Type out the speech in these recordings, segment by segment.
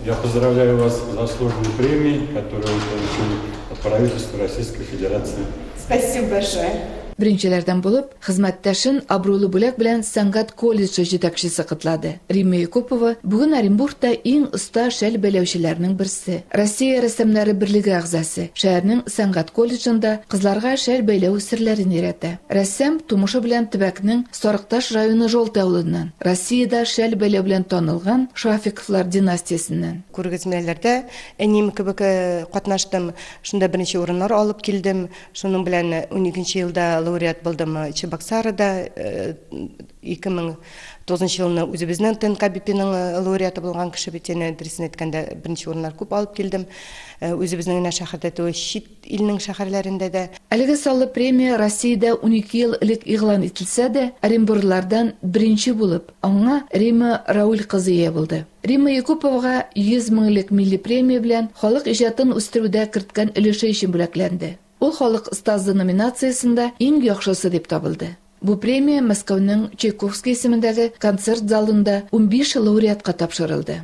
Я поздравляю вас с заслуженной премией, которую вы получили от правительства Российской Федерации. Спасибо большое. Беренчеләрдән булып, хезмәттәшен абруйлы бүләк белән сәнгать колледжы җитәкчесе котлады. Римма Якупова бүген Оренбургта иң оста шәл бәйләүчеләрнең берсе. Россия рәссамнары берлеге әгъзасы. Шәһәрнең сәнгать колледжында кызларга шәл бәйләү серләрен өйрәтә. Рәссам тумышы белән төбәкнең Сарыкташ районы Желтый авылыннан, Россиядә шәл бәйләү белән танылган Шафиковлар династиясеннән. Күргәзмәләрдә әнием кебек катнаштым, шунда беренче урыннар алып килдем. Шуның белән уникенче елда лауреат булдым Чебоксарыда, 2009 елны үзебезнең ТНК БИПИның лауреаты булган кеше бит, янә дөресен әйткәндә, беренче урыннар күп алып килдем. Үзебезнең генә шәһәрдә түгел, чит Илнең шәһәрләрендә дә. Әлеге саллы премия Россиядә унике ел элек игълан ителсә дә, оренбурлылардан беренче булып, аңа Римма Рауль кызы ия булды. Римма Якуповага 100 мең элек милли премия белән халык иҗатын үстерүдә керткән өлеше өчен бүләкләнде. Ул Халык остазы номинациясендә иң яхшысы дип табылды. Бу премия Мәскәүнең Чайковский исемендәге концерт залында унбиш лауреатка тапшырылды.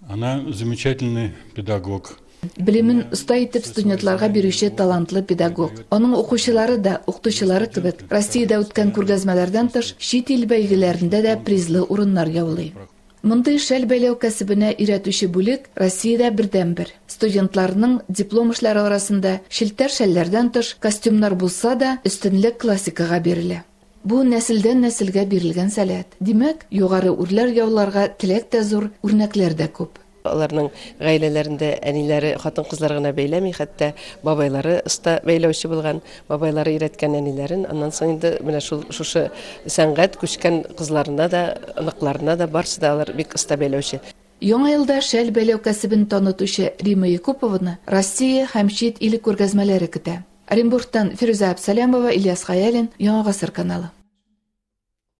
Она замечательный педагог. Белемен оста итеп студентларга бирүче талантлы педагог. Аның укучылары да, укытучылары кебек, Россиядә үткән күргәзмәләрдән тыш, чит ил бәйгеләрендә дә призлы урыннар яулый. Мондый шәл бәйләү кәсебенә өйрәтүче бүлек Россиядә бердәнбер. Студентларның диплом эшләре арасында челтәр шәлләрдән тыш костюмнар булса да, өстенлек классикага бирелә. Бу, нәселдән-нәселгә бирелгән сәләт. Димәк, югары үрләр яуларга теләк тә зур, үрнәкләр дә күп. Аларның гаиләләрендә әниләре хатын-кызлар гына бәйләми, хәтта бабайлары оста бәйләүче булган, бабайлары өйрәткән әниләрен, аннан соң инде менә шул шушы сәнгать күчкән кызларына да, оныкларына да, барсы да алар бик оста бәйләүче. Яңа елда шәл бәйләү кәсебен танытучы Римма Якупованы Россия һәм чит ил күргәзмәләре көтә. Оренбургтан Фирүзә Абсалямова, Ильяс Хәялин, Яңа гасыр каналы.